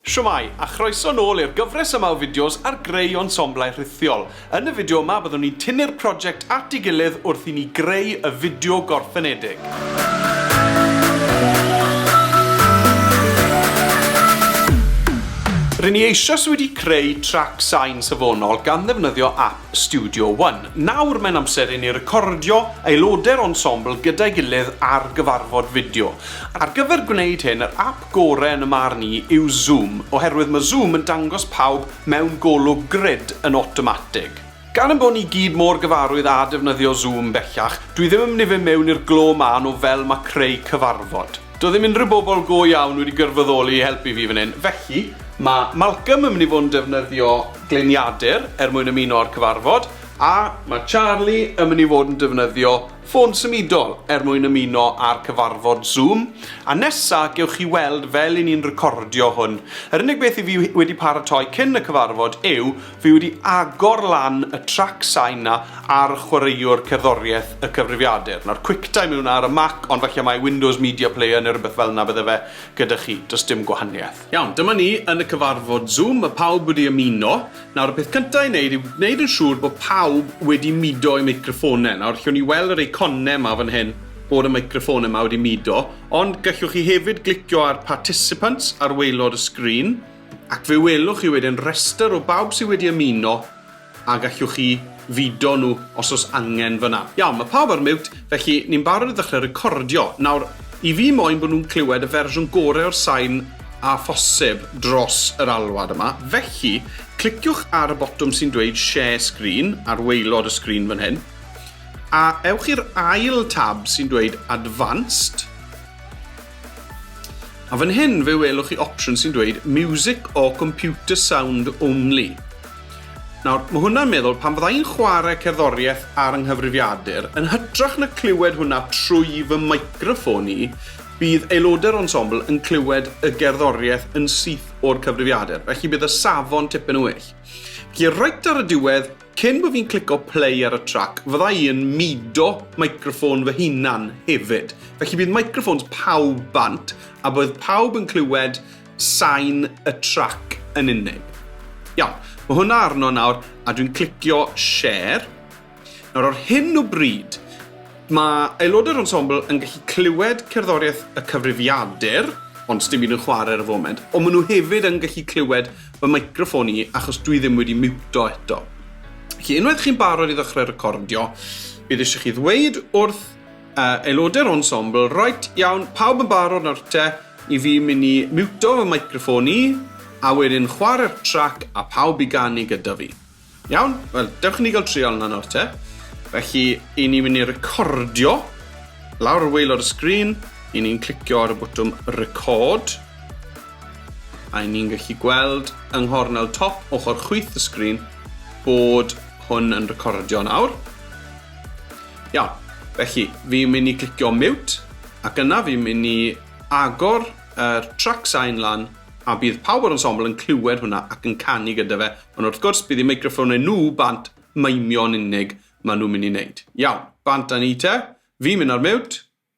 Shwmae, a chroeso nôl i'r gyfres yma o fideos ar greu ensemblau rhithiol. Yn y fideo yma byddwn ni'n tynnu'r prosiect at ei gilydd wrth i ni greu y fideo gorffenedig. Ry'n ni eisoes wedi creu trac sain safonol gan ddefnyddio ap Studio One. Nawr mae'n amser i ni recordio aelodau'r ensemble gyda'i gilydd ar gyfarfod fideo. Ar gyfer gwneud hyn, yr ap gore yn y marn i yw Zoom, oherwydd mae Zoom yn dangos pawb mewn golwg grid yn awtomatig. Gan ein bod ni gyd mor gyfarwydd â defnyddio Zoom bellach, dwi ddim yn mynd i fynd mewn i'r glo mân o fel mae creu cyfarfod. Doedd ddim unrhyw bobl go iawn wedi gwirfoddoli i helpu fi fan hyn, felly mae Malcolm yn mynd i fod yn defnyddio gliniadur er mwyn ymuno â'r cyfarfod, a mae Charlie yn mynd i fod yn defnyddio Ffôn symudol, er mwyn ymuno â'r cyfarfod Zoom, a nesa gewch chi weld fel i ni'n recordio hwn. Yr unig beth i fi wedi paratoi cyn y cyfarfod yw fi wedi agor lan y trac sain 'na ar chwaraewr cerddoriaeth y cyfrifiadur. Nawr Quicktime yw 'na ar y Mac ond falle mai Windows Media Player neu rywbeth fel 'na bydde fe gyda chi, does dim gwahaniaeth. Iawn, dyma ni yn y cyfarfod Zoom, ma' pawb wedi ymuno, Nawr, y peth cynta i wneud yw gwneud yn siŵr bod pawb wedi mudo eu meicroffone. Nawr, allwn ni weld yr eiconau yma fan hyn bod y meicroffone yma wedi mudo, ond gallwch chi hefyd glicio ar Participants ar waelod y sgrin, ac fe welwch chi wedyn rhestr o bawb sydd wedi ymuno, a gallwch chi fido nhw os o's angen fynna. Iawn, ma' pawb ar miwt, felly ni'n barod i ddechre recordio. Nawr, i fi moyn bod nhw'n clywed y fersiwn gore o'r sain â phosib dros yr alwad yma, felly cliciwch ar y botwm sy'n dweud Share Screen ar waelod y sgrin fan hyn, a ewch i'r ail tab sy'n dweud Advanced, a fan hyn fe welwch chi opsiwn sy'n dweud Music or Computer Sound Only. Nawr, mae hwnna'n meddwl, pan fydda i'n chwarae cerddoriaeth ar 'y nghyfrifiadur, yn hytrach na clywed hwnna trwy fy meicroffon i, bydd aelodau'r ensemble yn clywed y gerddoriaeth yn syth o'r cyfrifiadur, felly bydd y safon tipyn yn well. Felly, reit ar y diwedd, cyn bod fi'n clico play ar y trac, fydda i yn mudo meicroffon fy hunan hefyd. Felly bydd meicroffons pawb bant, a bydd pawb yn clywed sain y trac yn unig. Iawn, mae hwnna arno nawr a dwi'n clicio share. Nawr o'r hyn o bryd, mae aelodau'r ensemble yn gallu clywed cerddoriaeth y cyfrifiadur, ond dim un yn chwarae ar y foment, ond maen nhw hefyd yn gallu clywed fy microfon i achos dwi ddim wedi miwto eto. Felly, unwaith chi'n barod i ddechrau recordio, bydd eisiau chi ddweud wrth Uh, aelodau'r ensemble, right, iawn, pawb yn barod nawr te, i fi mynd i miwto fy microffon i, a wedyn chwarae'r trac a pawb i ganu gyda fi. Iawn? Wel, dewch i ni gael trial yna nawr te. Felly, i ni mynd i recordio lawr y weilod y sgrin, i ni'n clicio ar y bwtwm record, a i ni'n gallu gweld yng nghornel top ochr chwyth y sgrin bod hwn yn recordio nawr. Iawn, felly fi'n mynd i clicio mute ac yna fi'n mynd i agor yr track sign lan a bydd pawb o'r ensemble yn clywed hwnna ac yn canu gyda fe, ond wrth gwrs bydd eu meicroffonnau nhw bant maimio'n unig maen nhw'n mynd i wneud. Iawn, bant â ni te, fi'n mynd ar mute.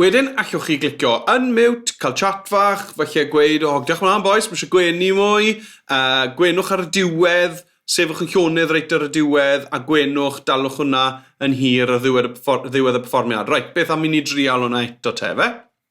Wedyn allwch chi glicio unmute, cael chat fach, falle gweud, o, diolch yn fawr bois, mae eisiau gwenu mwy, uh, gwenwch ar y diwedd, sefwch yn llonydd reit ar y diwedd, a gwenwch, dalwch hwnna yn hir ar ddiwedd y, ddiwedd y perfformiad. Reit, beth am i ni drial hwnna eto te, fe?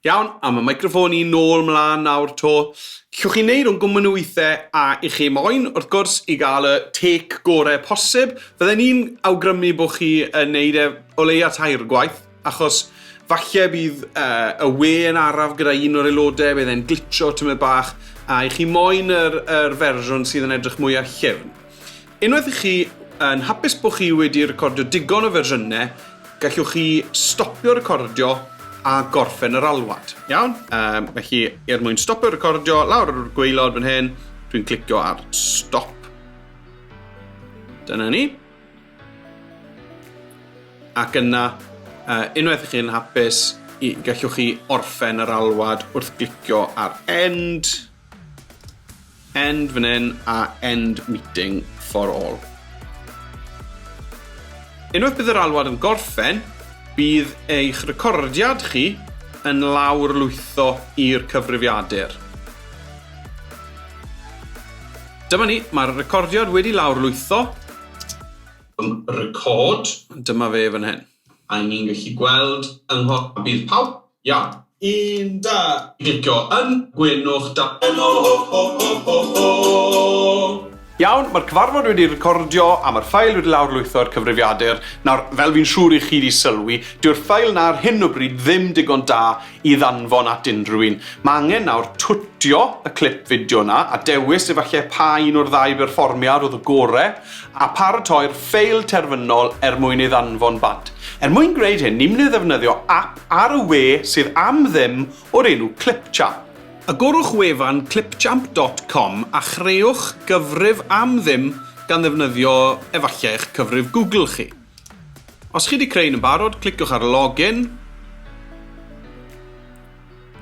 Iawn, am y microffon i nôl mlaen nawr to. Cwch chi wneud o'n gwmwn o weithiau a i chi moyn, wrth gwrs, i gael y tec gorau posib. Fydden ni'n awgrymu bod chi yn wneud e o leia tair gwaith, achos falle bydd uh, y we yn araf gyda un o'r aelodau, bydd e'n glitcho tymed bach, a i chi moyn yr, yr fersiwn sydd yn edrych mwy a chefn. Unwaith i chi yn hapus bod chi wedi recordio digon o fersiynau, gallwch chi stopio recordio a gorffen yr alwad. Iawn, um, felly er mwyn stopio recordio, lawr ar yr gweilod fan hyn, dwi'n clicio ar stop. Dyna ni. Ac yna, uh, unwaith i chi'n hapus, gallwch chi orffen yr alwad wrth glicio ar end. End fan hyn a end meeting for all. Unwaith bydd yr alwad yn gorffen, bydd eich recordiad chi yn lawr lwytho i'r cyfrifiadur. Dyma ni, mae'r recordiad wedi lawr lwytho. Record. Dyma fe fan hyn. A ni'n gallu gweld yng nghof bydd pawb Iawn. Un, da! Gicio yn gwenwch da yn o ho ho ho ho ho! Iawn, mae'r cyfarfod wedi ei recordio a mae'r ffail wedi lawrlwytho i'r cyfrifiadur. Nawr, fel fi'n siŵr i chi 'di sylwi, dyw'r ffail 'na ar hyn o bryd ddim digon da i ddanfon at unrhyw un. Mae angen nawr twtio y clip fideo 'na a dewis efallai pa un o'r ddau berfformiad oedd y gore, a pharatoi'r ffail terfynol er mwyn ei ddanfon bant. Er mwyn gwneud hyn, ni'n mynd i ddefnyddio ap Ar y we sydd am ddim o'r enw Clipchamp. Agorwch wefan clipchamp dot com a chreuwch gyfrif am ddim gan ddefnyddio efallai eich cyfrif Google chi. Os chi wedi creu un yn barod, cliciwch ar Login.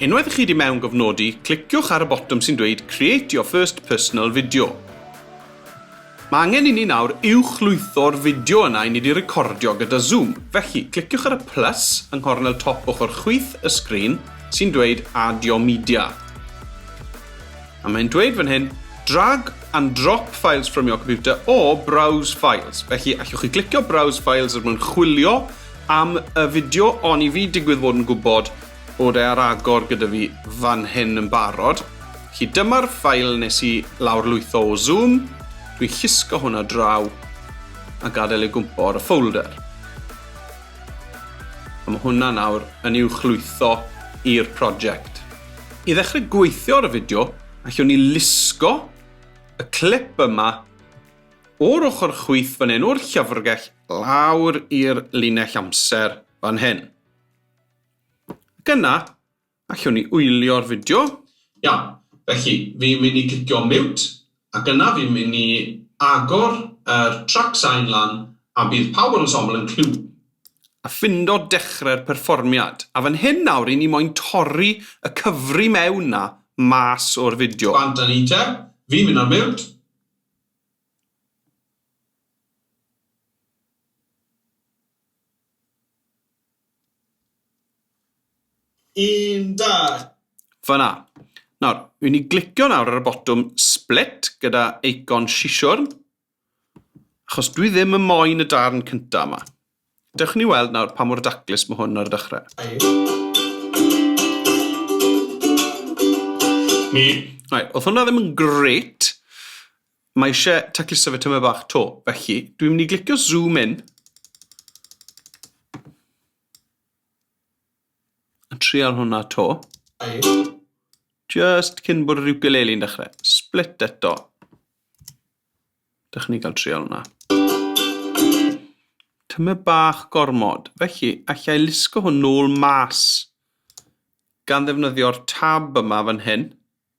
Unwaith chi wedi mewngofnodi, cliciwch ar y botwm sy'n dweud Create your first personal video. Mae angen inni nawr uwchlwytho'r fideo yna i ni di recordio gyda Zoom. Felly, cliciwch ar y plus yng nghornel top ochr chwith y sgrin sy'n dweud Add your media. A mae'n dweud fan hyn, Drag and drop files from your computer or browse files. Felly, allwch chi glicio browse files er mwyn chwilio am y fideo, oni fi digwydd fod yn gwybod Bod e ar agor gyda fi fan hyn yn barod. Felly dyma'r ffail nes i lawr lwytho o Zoom. Dwi'n llusgo hwnna draw a gadael ei gwmpo ar y ffolder. A mae hwnna nawr yn i'w chlwytho i'r prosiect. I ddechrau gweithio ar y fideo, allwn ni lusgo y clip yma o'r ochr chwith fan hyn, o'r llyfrgell, lawr i'r linell amser fan hyn. Ac yna, allwn ni wylio'r fideo. Iawn, felly fi'n mynd i clicio mute ac yna fi'n mynd i agor yr trac sain lan a bydd pawb o'r ensemble yn clywed fi. A ffindo dechre'r perfformiad. A fan hyn nawr ry'n ni moyn torri y cyfri mewn 'na mas o'r fideo. Bant a ni te. Fi'n mynd ar mute. Un, dau. Fyna. Nawr, wi ni glicio nawr ar y botwm split gyda eicon siswrn, achos dwi ddim yn moyn y darn cynta yma. Dewch ni weld nawr pa mor daclus mae hwn ar y dechrau. Right, oedd hwnna ddim yn gret, Mae eisiau tacluso fe tymed bach 'to, felly dwi'n mynd i glicio zoom in a trial hwnna 'to. Just cyn bod yr ukulele'n dechrau. Split eto. Dych chi'n cael trial hwnna. Tymed bach gormod, felly allai lusgo hwn nôl mas gan ddefnyddio'r tab yma fan hyn.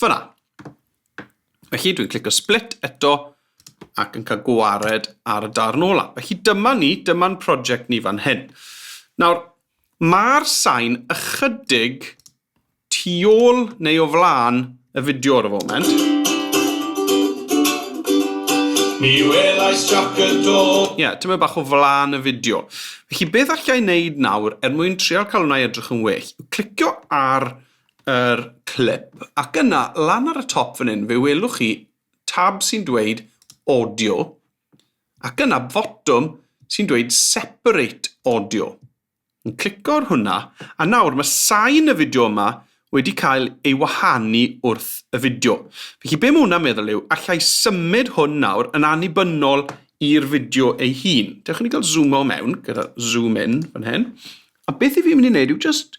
Fyna. Felly dwi'n clicio split eto ac yn cael gwared ar y darn ola. Felly dyma ni, dyma'n prosiect ni fan hyn. Nawr, mae'r sain ychydig tu ôl neu o flaen y fideo ar y foment. Mi welais jac y do. Ie, yeah, tyma bach o flaen y fideo. Felly beth allai wneud nawr er mwyn trial cael hwnna edrych yn well? Clicio ar yr clip ac yna lan ar y top fan hyn fe welwch chi tab sy'n dweud audio ac yna fotwm sy'n dweud separate audio. Yn clico ar hwnna a nawr mae sain y fideo yma wedi cael ei wahanu wrth y fideo. Felly be mae hwnna'n meddwl yw allai symud hwn nawr yn annibynnol i'r fideo ei hun. Dewch i ni gael zoom o mewn gyda zoom in fan hyn. A beth i fi mynd i wneud yw just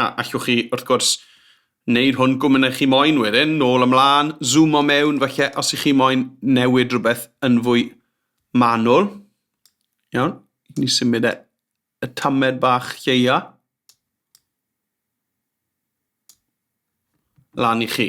A allwch chi, wrth gwrs, wneud hwn gwmyn eich chi moyn wedyn, nôl ymlaen, zoom o mewn, felly os ych chi moyn newid rhywbeth yn fwy manwl. Iawn, ni symud e y tamed bach lleia. Lan i chi.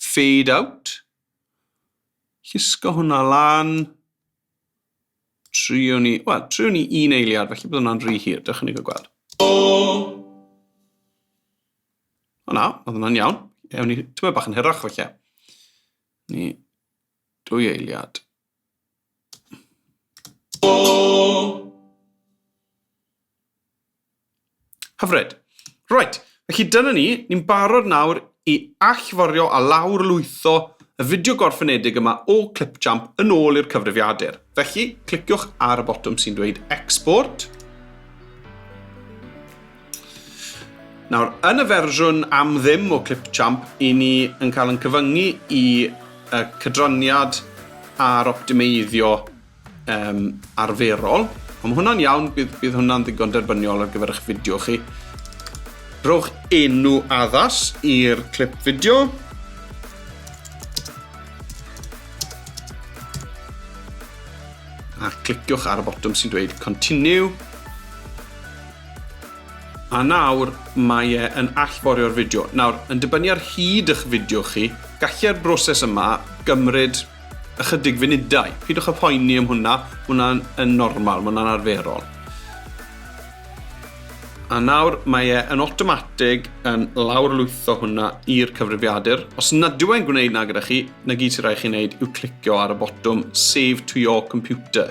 fade out, llusgo hwnna lan, triwn ni, wel, triwn ni un eiliad, felly bydd hwnna'n rhy hir, dych chi'n gweld. O! O na, oedd hwnna'n iawn. Ewn ni, tyma bach yn hirach felly. Ni Dwy eiliad. Hyfryd. Right, felly dyna ni, ni'n barod nawr i allforio a lawr lwytho y fideo gorffenedig yma o Clipchamp yn ôl i'r cyfrifiadur. Felly, cliciwch ar y botwm sy'n dweud Export. Nawr, yn y fersiwn am ddim o Clipchamp, i ni yn cael yn cyfyngu i y cydraniad a'r optimeiddio um, arferol. Ond mae hwnna'n iawn, bydd, bydd hwnna'n ddigon derbyniol ar gyfer eich fideo chi. Rhowch enw addas i'r clip fideo. A cliciwch ar y botwm sy'n dweud Continue. A nawr mae e yn allforio'r fideo. Nawr, yn dibynnu ar hyd ych fideo chi, gallai'r broses yma gymryd ychydig funudau. Pidwch â phoeni am hwnna, mae hwnna'n yn normal, mae hwnna'n arferol. A nawr mae e yn automatig yn lawrlwytho hwnna i'r cyfrifiadur. Os nad yw e'n gwneud na gyda chi, na gyd sy'n rhaid chi wneud yw clicio ar y botwm Save to your computer.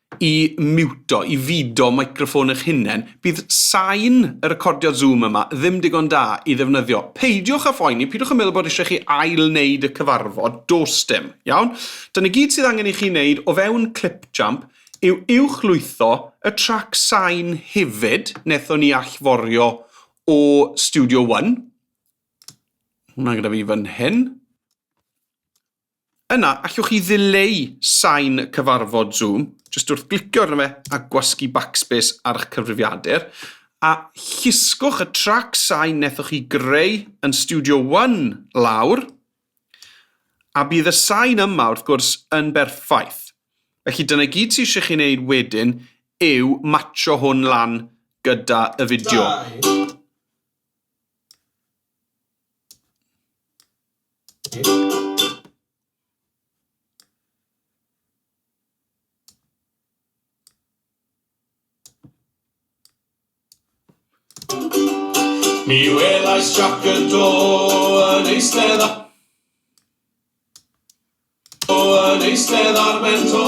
i miwto, i fido microffon eich hunain, bydd sain y recordiad Zoom yma ddim digon da i ddefnyddio. Peidiwch â phoeni, peidiwch â meddwl bod eisiau chi ail-wneud y cyfarfod, does dim, iawn? Dyna gyd sydd angen i chi wneud o fewn Clipchamp yw uwchlwytho y trac sain hefyd, wnaethon ni allforio o Studio One. Hwnna gyda fi fan hyn. Yna, allwch chi ddileu sain y cyfarfod Zoom, jyst wrth glicio arno fe a gwasgu backspace ar eich cyfrifiadur, a llusgwch y trac sain nethoch chi greu yn Studio One lawr, a bydd y sain yma, wrth gwrs, yn berffaith. Felly dyna i gyd sydd eisiau chi wneud wedyn yw matsio hwn lan gyda y fideo. Mi welais Jac y Do yn eistedd ar... O yn eistedd ar ben to,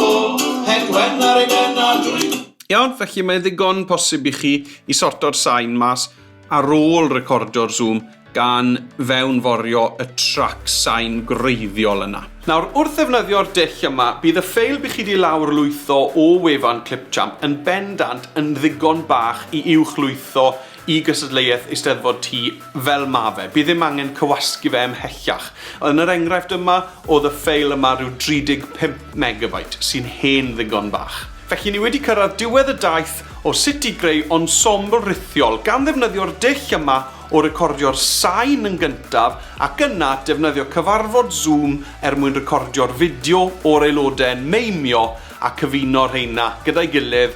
het wen ar ei ben a dwy. Iawn, felly mae'n ddigon posib i chi i sorto'r sain mas ar ôl recordio'r Zoom gan fewnforio y trac sain gwreiddiol yna. Nawr, wrth ddefnyddio'r dull yma, bydd y ffeil bych chi 'di lawrlwytho o wefan Clipchamp yn bendant yn ddigon bach i uwchlwytho i gystadleuaeth Eisteddfod Ty fel ma fe, bydd ddim angen cywasgu fe ymhellach. Yn yr enghraifft yma, o'dd y ffeil yma ryw 35 megabyte, sy'n hen ddigon bach. Felly ni wedi cyrraedd diwedd y daith o sut i greu ensemble rithiol gan ddefnyddio'r dull yma o recordio'r sain yn gyntaf ac yna defnyddio cyfarfod Zoom er mwyn recordio'r fideo o'r aelodau'n meimio a cyfuno rheina gyda'i gilydd